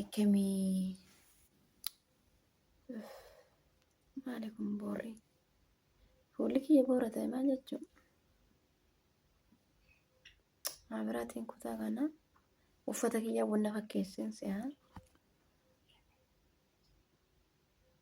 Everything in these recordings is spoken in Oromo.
Akkamii maali kun boorri? Fuulli kiyya boora ta'e maal jechuun? Maabiraatiin kutaa kana uffata kiyya wanna fakkeessin si'a.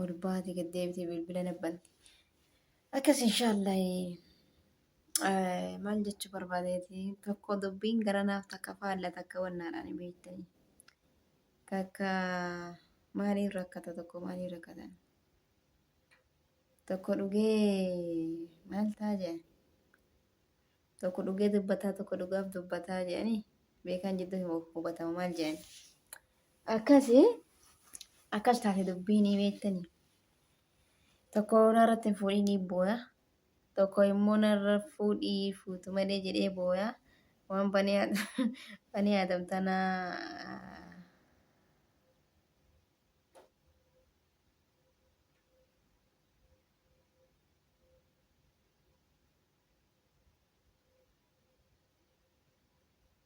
ol baate gad deebitee bilbila nabbanti. Akkas inshaallah maal jechuu barbaadeeti tokko dubbiin gara naaf takka faalla takka wannaadhaan hin beektanii. Takka maaliin rakkata tokko maaliin rakkatan. Tokko dhugee maal ta'a jedhan. Tokko dhugee dubbataa tokko dhugaaf dubbataa jedhanii beekaan jidduu hin hubatamu maal jedhan. Akkasi akkas taate dubbiinii beektanii. Tokko narratti hin fuudhinii booya. Tokko immoo narra fuudhii fuutu malee jedhee booya. Waan banee Adam- banee Adam tana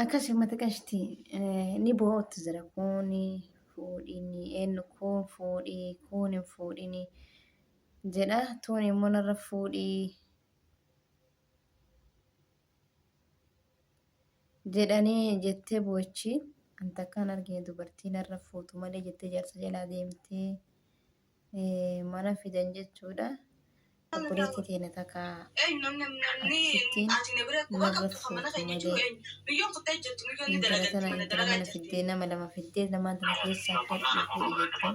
Akkasi uummata qashti ni boo'otti jira kuuni fuudhini eenyu kuun fuudhii kuun hin fuudhini jedha tuun immoo narra fuudhii jedhanii jettee boochi an takkaan argine dubartii narra fuutu malee jettee jaarsa jalaa deemtee eh, mana fidan jechuudha. Obboleettii teena takka achittiin narra fuutu malee intala tana intala mana fiddee nama lama fiddee lamaan tana keessaa fudhu fuudhi jettee.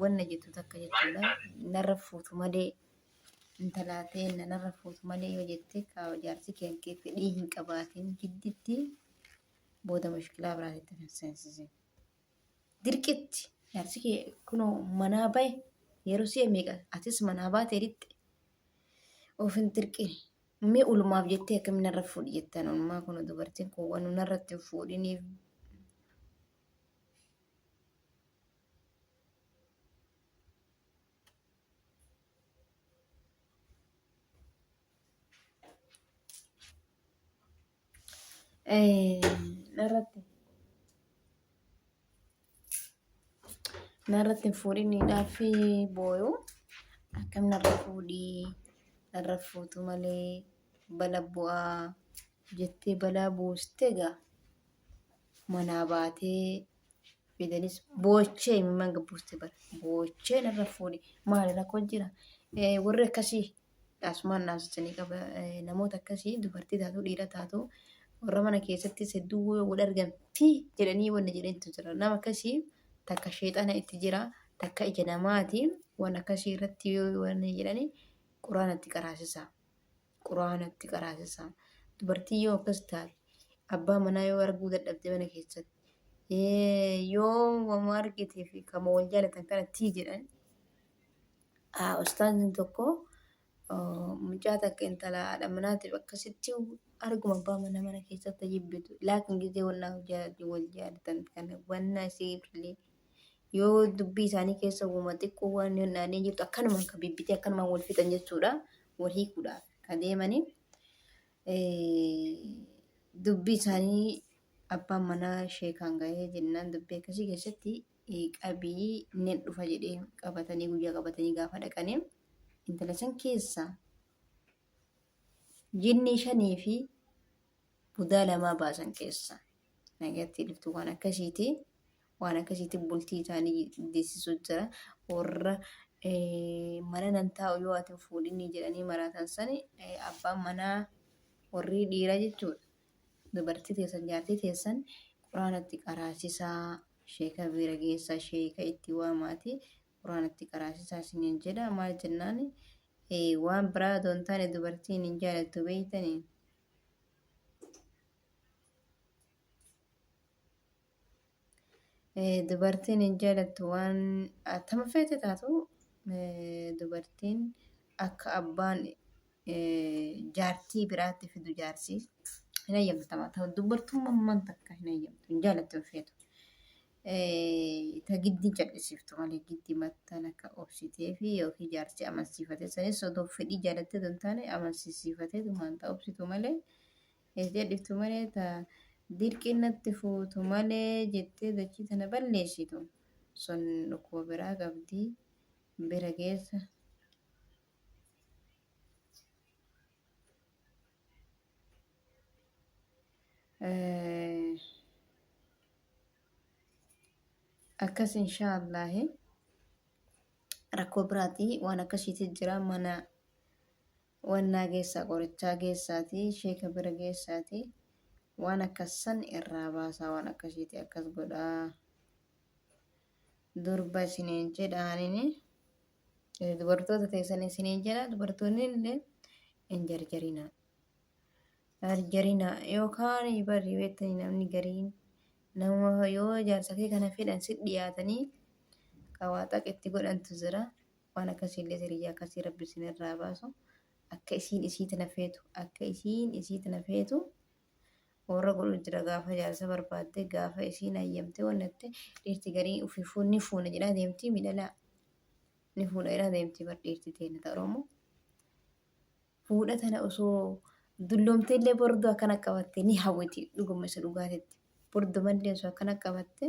wanna jettu takka jechuudha narra fuutu malee intalaa ta'e narra fuutu malee yoo jette kaa jaarsi kee kee fedhii hin qabaatiin gidditti booda mushkilaa biraatitti kan seensise dirqitti jaarsi kee kunoo manaa bahe yeroo si'a meeqa atis manaa baatee dhiqxe of hin dirqine mee ulmaaf jettee akkamiin narra fuudhi jettan ulmaa kun dubartiin kun waan narratti hin fuudhiniif Narratti narratti hin fuudhin hidhaafi booyuu akkam narra fuudhii narra fuutu malee bala bu'aa jettee balaa buuste gaa. manaa baatee fidanis boochee imimmaan gabbuuste bar boochee narra fuudhe maali rakkoo jira Eh, warri akkasii asumaan naasisanii qaba Eh, namoota akkasii dubartii taatu dhiira taatu warra mana keessattis hedduu woo wal argan fi jedhanii wanna jedhantu jira nama akkasii takka sheexana itti jira takka ija namaati waan akkasii irratti yoo wanna jedhanii quraanatti qaraasisa. Qur'aana itti qaraasisaa. Dubartiin yoo akkas taate abbaa manaa yoo arguu dadhabde mana keessatti ee, yoo wama argitee fi kama wal jaalatan kana tii jedhan aa, ustaaziin tokko oo, mucaa takka intala haadha manaatiif akkasitti arguma abbaa manaa mana keessatti jibbitu laakin gizee wannaa wal jaalatan kana wannaa isiif illee yoo dubbii isaanii keessa uuma xiqqoo waan hin dhaadee jirtu akkanuma kan bibbitee akkanuma wal fixan jechuudha wal hiikuudhaaf kan deemanii dubbii isaanii abbaan manaa sheekaan gahee jennaan dubbii akkasii keessatti qabii nin dhufa jedhee qabatanii guyyaa qabatanii gaafa dhaqanii intala san keessaa jinnii shanii fi budaa lamaa baasan keessa nagatti dhuftu waan akkasiiti waan akkasiiti bultii isaanii deessisu jira warra mana nan taa'u yoo ati fuudhinni jedhanii maraatan sani abbaan manaa warri dhiira jechuudha dubartii teessan jaartii teessan quraanatti qaraasisaa sheeka bira geessa sheeka itti waamaati quraanatti qaraasisaa isiniin jedha maal jennaani waan biraa doontaane dubartiin hin jaalattu beeytanii Dubartiin hin jaalattu waan attama feete taatu dubartiin akka abbaan jaartii biraatti fidu jaarsi hin hayyamtama ta'u dubartummaan takka hin hayyamtu hin jaalattu hin feetu. Eh, ta giddiin cadhisiftu malee giddi mattan akka obsitee fi yookiin jaarsi amansiifatee sanis odoo fedhii jaalattee osoo hin taane amansiisiifatee tumaan ta obsitu malee eh, jedhiftu malee ta dirqiin natti fuutu malee jettee dachii tana balleessitu sun dhukkuba biraa qabdi bira geessa. akkas inshaa allaahi rakkoo biraatii waan akkasiiti jira mana wannaa geessaa qorichaa geessaatii sheeka bira geessaatii waan akkassan irraa baasaa waan akkasiiti akkas godhaa durba isiniin jedhaanini dubartoota teessan isiniin jedha dubartoonni illee hin jarjarinaa Jarjarina yookaan barri beektanii namni gariin nama yoo jaarsakee kana fedhan si dhiyaatanii qawaaxaq itti godhantu jira. Waan akkasiillee siriyyaa akkasii rabbi isin irraa baasu. Akka isiin isii tana feetu akka isiin isii tana feetu warra godhu jira gaafa jaarsa barbaadde gaafa isiin hayyamte wannatte dhiirti garii ofii fuun ni fuuna jedhaa deemtii midhalaa ni fuudha jedhaa deemtii bar dhiirti teenya ta Oromoo. fuudha tana osoo dulloomtee illee borduu akkana qabatte ni hawwiti dhuguma isa dhugaatetti bordumallee osoo akkana qabatte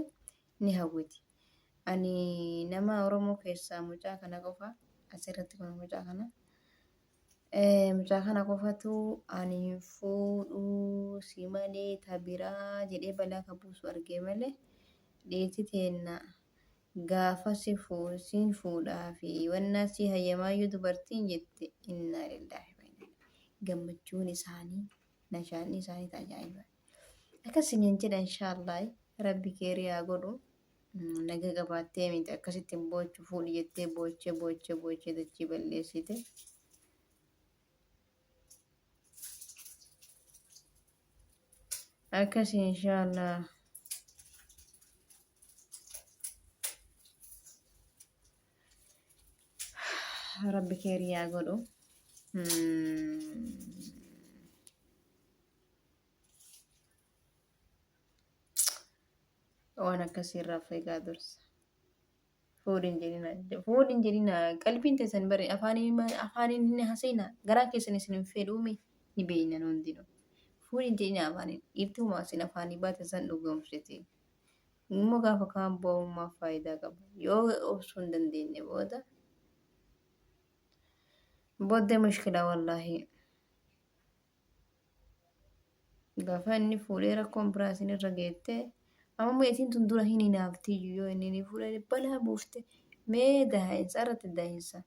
ni hawwiti ani nama oromoo keessaa mucaa kana qofa asirratti kun mucaa kana Eh, mucaa kana qofatu ani hin fuudhu si malee ta biraa jedhee balaa ka buusu argee malee dhiirti teenna Gaafasi fuudh siin fuudhaa fi wannaa sii hayyamaayyuu dubartiin jette innaa lillaahi wa innaa ilaihi gammachuun isaanii nashaadni isaanii ta ajaa'iba akkas siniin jedha inshaallaah rabbi keerii haa godhu naga qabaattee miti akkasitti hin boochu fuudhi jettee boochee boochee boochee dachii balleessite akkas inshaallaah rabbi keeri yaa godhu waan akkasii irraa of eegaa dursa fuudhin jedhina fuudhin jedhina qalbiin teessan bari afaaniin afaaniin hin haseena garaa keessan isin hin fedhuume ni beeyna hundinuu fuudhin jedhina afaaniin dhiirti humaa isin afaanii baate san dhugoomsite Immoo gaafa kaan boo'uun maaf faayidaa qaba? Yoo obsuu hin dandeenye booda booddee mushkilaa wallaahi. Gaafa inni fuudhee rakkoon biraa isin irra geette amma immoo isin tun dura hin hinaaftiyyuu yoo inni ni fuudhee balaa buufte mee daa'insa irratti daa'insa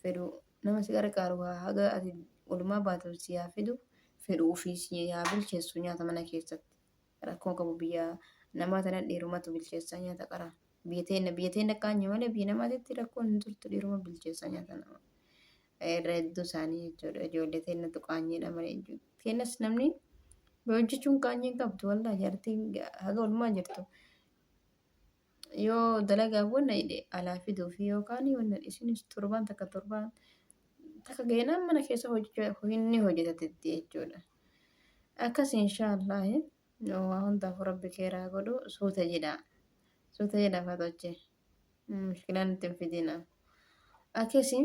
fedhu nama si qarqaaru haga ati olumaa baatuuf si haa fidu fedhu ofii si haa bilcheessu nyaata mana keessatti. rakkoo qabu biyya namaa tana dhiirumatu bilcheessaa nyaata qara biyya teenna biyya teenna kaanyu malee biyya namaatitti rakkoon hin turtu dhiiruma bilcheessaa nyaata nama irra hedduu isaanii jechuudha ijoollee teennatu qaanyiidha malee teennas namni hojjechuun qaanyii hin qabdu waldaa jartiin haga olmaa jirtu yoo dalagaa wanna hidhe alaa fiduu fi yookaan wanna isinis torbaan takka torbaan takka geenaan mana keessa hojjechuu inni hojjetatetti jechuudha. Akkas inshaallah waa hundaaf rabbi keeraa godhu suuta jedha. Suuta jedha fatoche. Mushkilaan itti hin fidina. Akkasi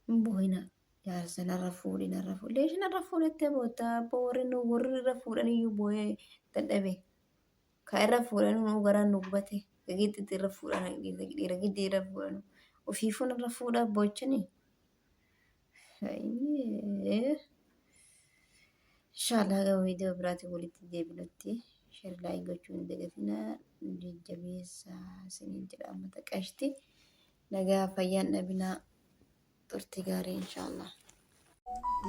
Hin boohina. Jaarsa narra fuudhi narra fuudhi. Leeshi narra fuudhattee bootta abboo warri nu warri irra fuudhan iyyuu booyee dadhabe. Ka irra fuudhan nu garaan nu gubate. Gidditti irra fuudhan dhiira giddii irra fuudhan. Ofiifuu narra fuudha boochani. Inshaallah gama viidiyoo biraatiin walitti deebinutti sheer laayik gochuu hin dagatinaa jajjabeessaa isiniin jedha uummata qashti. Nagaa fayyaan dhabinaa turtii gaarii inshaallah.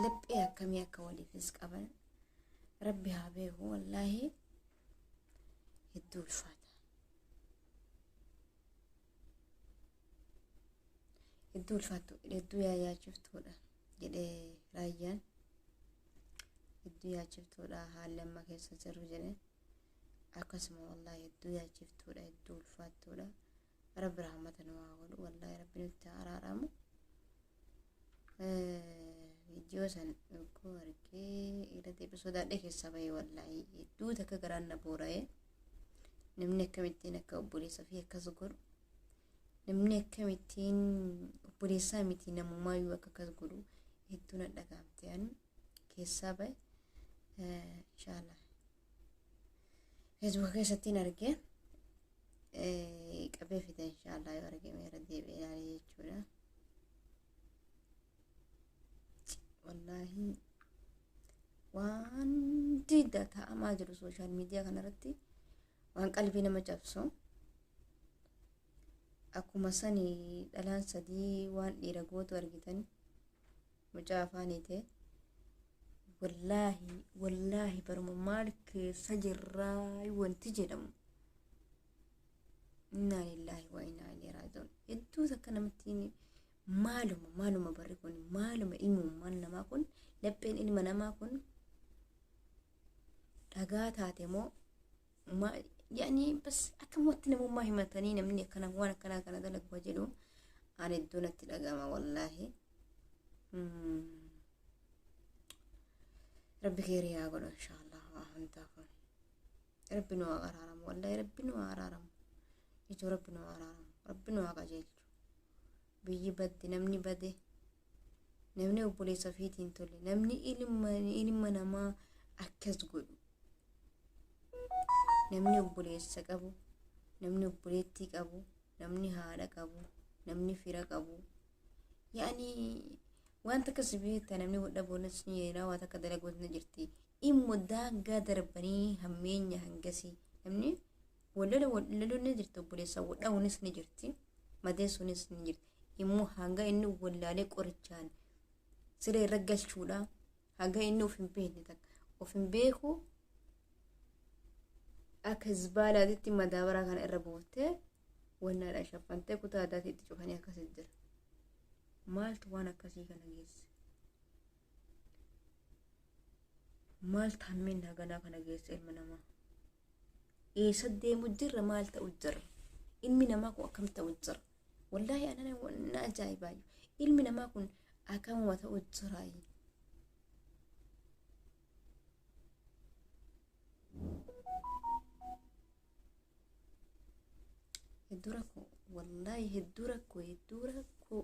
Laphee akkamii akka waliifis qaban rabbi haa beeku wallaahi hedduu ulfaata. Hedduu ulfaattu hedduu yaa yaachiftuudha jedhee raayyaan hedduu yaachiftuudha haalli amma keessa jiru jedhee akkasuma wallaahi hedduu yaachiftuudha hedduu ulfaattuudha rabbi rahmata nu haa godhu wallahi rabbi nutti haa araaramu viidiyoo san yogguu argee irra deebi sodaadhee keessaa bahee wallahi hedduu takka garaan na boora'ee namni akkamittiin akka obboleessa fi akkas godhu namni akkamittiin obboleessaa miti namumaayyuu akka akkas godhu hedduu na dhagaamte ani keessaa ba'e inshaalla feesbuuka keessattiin argee qabee fide inshaalla yoo argame irra deebi'ee ilaalee jechuudha wallaahi waan didda ta'amaa jiru sooshaal miidiyaa kanarratti waan qalbii nama cabsu akkuma sani dhalaan sadii waan dhiira gootu argitan mucaa afaan hiitee wallaahi wallaahi baruma maal keessa jirraa wanti jedhamu innaa lillaahi wa innaa ilaihi raaji'uun hedduu takka namatti maaluma maaluma barri kun maaluma ilmummaan namaa kun lapheen ilma namaa kun dhagaa taate moo ma- yaani bas akkamumatti namummaa himatanii namni akkana waan akkanaa kana dalagu haa jedhu aan iddoo natti dhagama wallaahi Mm. rabbi keerii haa godhu inshaallah waa hundaa kun rabbi nu haa araaramu wallaahi rabbi nu haa araaramu ijoo rabbi nu haa araaramu rabbi nu haa qajeelchu biyyi badde namni bade namni obboleessa ofiitiin tole namni ilma ilma namaa akkas godhu namni obboleessa qabu namni obboleettii qabu namni haadha qabu namni fira qabu yaani wanta akkas beekta namni hodha boonas ni yeelaa waan akka dalagoos ni jirti immo daangaa darbanii hammeenya hangasii namni wallala wallaluun ni jirti obboleessaa wadha'uunis ni jirti madeessuunis ni jirti immoo hanga inni wallaalee qorichaan siree irra galchuudha hanga inni of hin beekne takka of hin beeku akka hizbaalaatitti madaabaraa kana irra buuftee wannaadhaan shaffantee kutaa addaatii itti cufanii akkasii jira maaltu waan akkasii kana geesse maal taammiin haganaa kana geessa ilma namaa eessa deemu jirra maal ta'u jirra ilmi namaa kun akkam ta'u jira wallaahi anana na ajaa'ibaayu ilmi namaa kun akkamuma ta'u jiraayi hedduu rakkoo wallaahi hedduu rakkoo hedduu rakkoo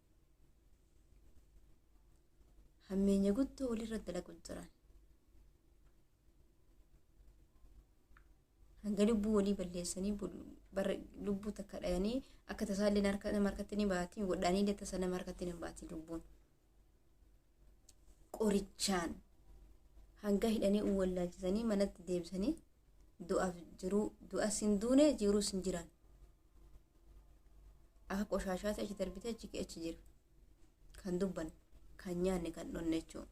hammeenya guddoo walirra dalagu jiran hanga lubbuu walii balleessanii lubbuu takka dhayanii akka tasaallee nama harkatti ni baatiin godhaanii illee tasa nama harkatti ni baatiin lubbuun qorichaan hanga hidhanii uwwallaachisanii manatti deebisanii du'aaf jiruu du'as hin duune jiruus hin jiran akka qoshaashaatti achi darbitee achi achi jira kan dubban kan nyaanne kan dhonne jechuudha.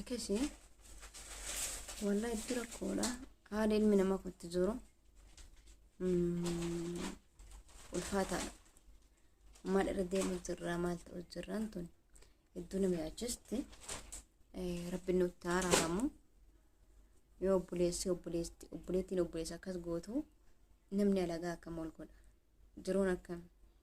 akkasi wallah itti rakkoodha haala ilmi namaa kun itti jiru ulfaataadha maal irra deemuu jirraa maal ta'u jirraan tun hedduu nama yaachisti rabbiin nutti haaraaramu yoo obboleessi obboleetti obboleettiin obboleessa akkas gootu namni alagaa akkam ol godha jiruun akkam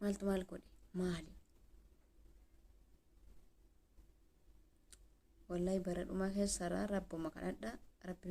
maaltu maal godhe maali wallahi bara dhumaa keessarraa rabbuma kadhadha rabbi